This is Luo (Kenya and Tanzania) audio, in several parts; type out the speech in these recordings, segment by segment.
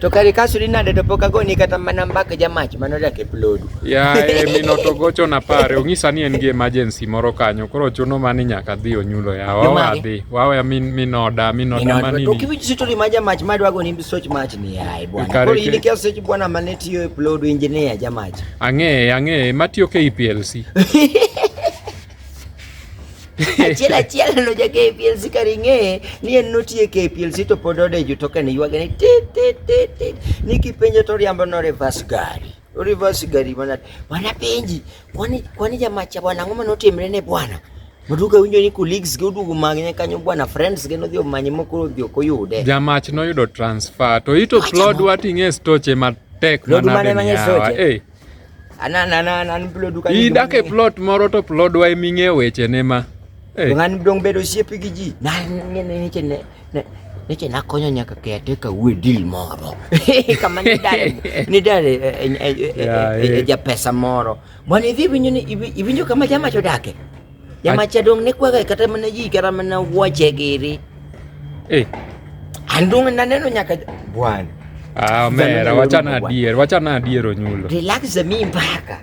to kare ka sudi nade to pok agoni kata mana mbaka jamach mano dak e plodu yaye mino to gocho na pare ong'isa ni en gi emergency moro kanyo koro chuno mani nyaka dhi onyulo ya wawa dhi wawa min minoda minoda mani to kiwinj sitori ma jamach ma dwago ni soch mach ni yaye bwana koro in kia soch bwana mane tiyo e plodu engineer jamach ang'e ang'e matiyo ke EPLC achiel achiel no ja KPLC karing'e ni en notie KPLC to pod odejo to kane ywage ni tit tit tit tit ni kipenjo to riambo no reverse gari reverse gari mana bwana penji kwani kwani jamacha bwana ngoma notimre ne bwana Maduka winjo ni colleagues gi oduogo magne kanyo bwana friends gi nodhi omanye mokoro odhi ok oyude. Jamach noyudo transfer to ito plod wating'e stoche matek manade ni yawa. Eh. idak e plot moro to plodwa ema ing'eyo wechene ma ng'ani dong' bedo osiepe gi ji neche nakonyo nyaka kete kawuo dil moro kama nidare japesa moro mondo idhi winjo ni iwinjo kama jamacho odake Jamacha dong ne kwaga kata mana ji kata mana wuoche giri. Eh. Andong naneno nyaka bwana. Ah, mera wachana adier, wachana adier onyulo. Relax mi mpaka.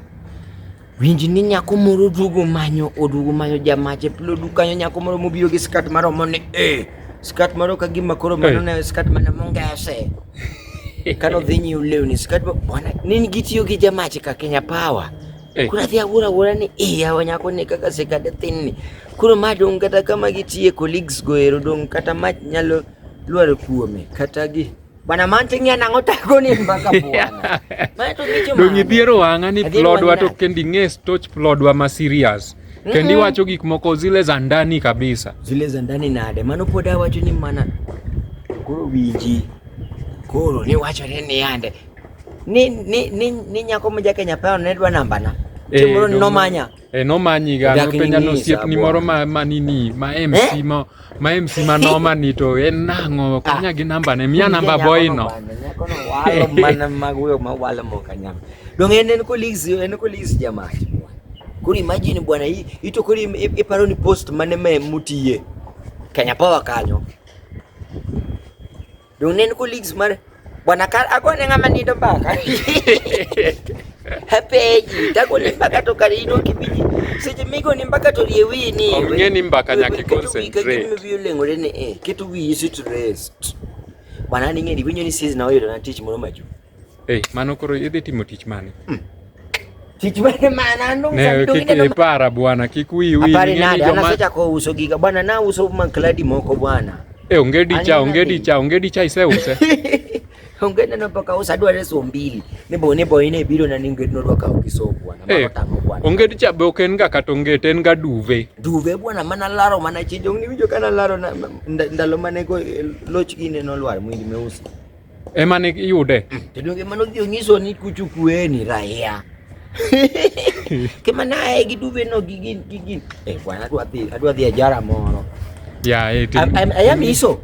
Winji ni nyako moro duogo manyo oduogo manyo jamache pilo dukanyo nyako moro mobiro gi skat maromo ni eh skat moro ka gima koro mano eh. ne skat mana mongese kano dhi nyiw lewni skat bwana nini gitiyo gi jamache ka Kenya Power Eh. Kuna vya gura gura ni eh ya wanya ko ne kaka se kada tin ni. Kuro ma don kata kama gi tie colleagues go ero don kata ma nyalo luar kuome kata gi bana manting ya nango tako ni mbaka buana. Ma to gicho ma. Dongi dhiero wanga ni plodwa to kendi nge stoch plodwa ma serious. Mm-hmm. Kendi mm -hmm. wacho gik moko zile za ndani kabisa. Zile za ndani nade. Mano poda wacho ni mana. Kuro wiji. Kuro ni wacho ni yande. Ni ni ni ni nyako ma Jakenya paro ne dwa namba na. Eh, Chimoro ni nomanya. Eh, nomanyi ga Dak nopenja ni ni nosiep ni sabwa. moro ma ma nini ma MC Eh? ma ma MC ma noma ni to en nang'o Ah. kanya gi namba ne miya namba Nyako boy no. nobanda, Nyako no walo mana mag wuyo ma walo ma ok anyam. Dong en en colleagues en colleagues jamaa. Koro imagine bwana hii ito koro im- i- iparo ni post mane me mutiye. Kenya Power kanyo. Dong nen colleagues mar bwana kar agone ng'ama nindo mbaka hapeji tagone mbaka to kar ino kibiji seche migoni mbaka to rie wiyi ni ok ng'e ni mbaka nyaka iconcentrate wiyi oleng'ore ni e keto wiyi sitrest bwana ning'e ni winyo ni siz na oyudo na tich moro machuok Eh, mano koro idhi timo tich mane? Hmm. Tich mane mano ndo ne kike ne para bwana, kik wi wi. Habari nani? Ana sasa kwa uso giga bwana, na uso mankladi moko bwana. Eh, ongedi cha, ongedi cha, ongedi cha ise use. Ongedi na paka usa dwa reso mbili. Ne bo ne bo ine biro na ninge no dwa ka ukiso bwana. Mama eh, tango bwana. Ongedi cha be oken ga katonge ten ga duve. Duve bwana mana laro mana chijo ni wijo kana laro na ndalo mane ko eh, loch gine no lwar mwindi meusi. ema ne iyude to donge mano dhi onyiso ni kuchu kue ni raia kema naye gi duve no gi gin gi gin eh bwana adwa dhi adwa dhi ajara moro ya eh, ti- Am- am- aya miso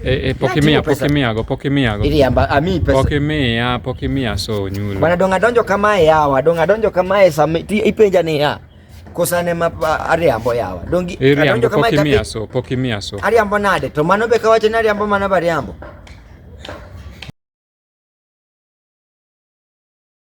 eh, eh, pok imiya pok imiya go pok imiya go iriamba ami pesa pok imiya pok imiya so nyulo bwana donga donjo kamae yawa donga donjo kamae sami ti ipenja ni ya kosane ma ariambo yawa dongi ariambo pok imiya so pok imiya so ariambo nade to mano be kawacho ni ariambo mano be ariambo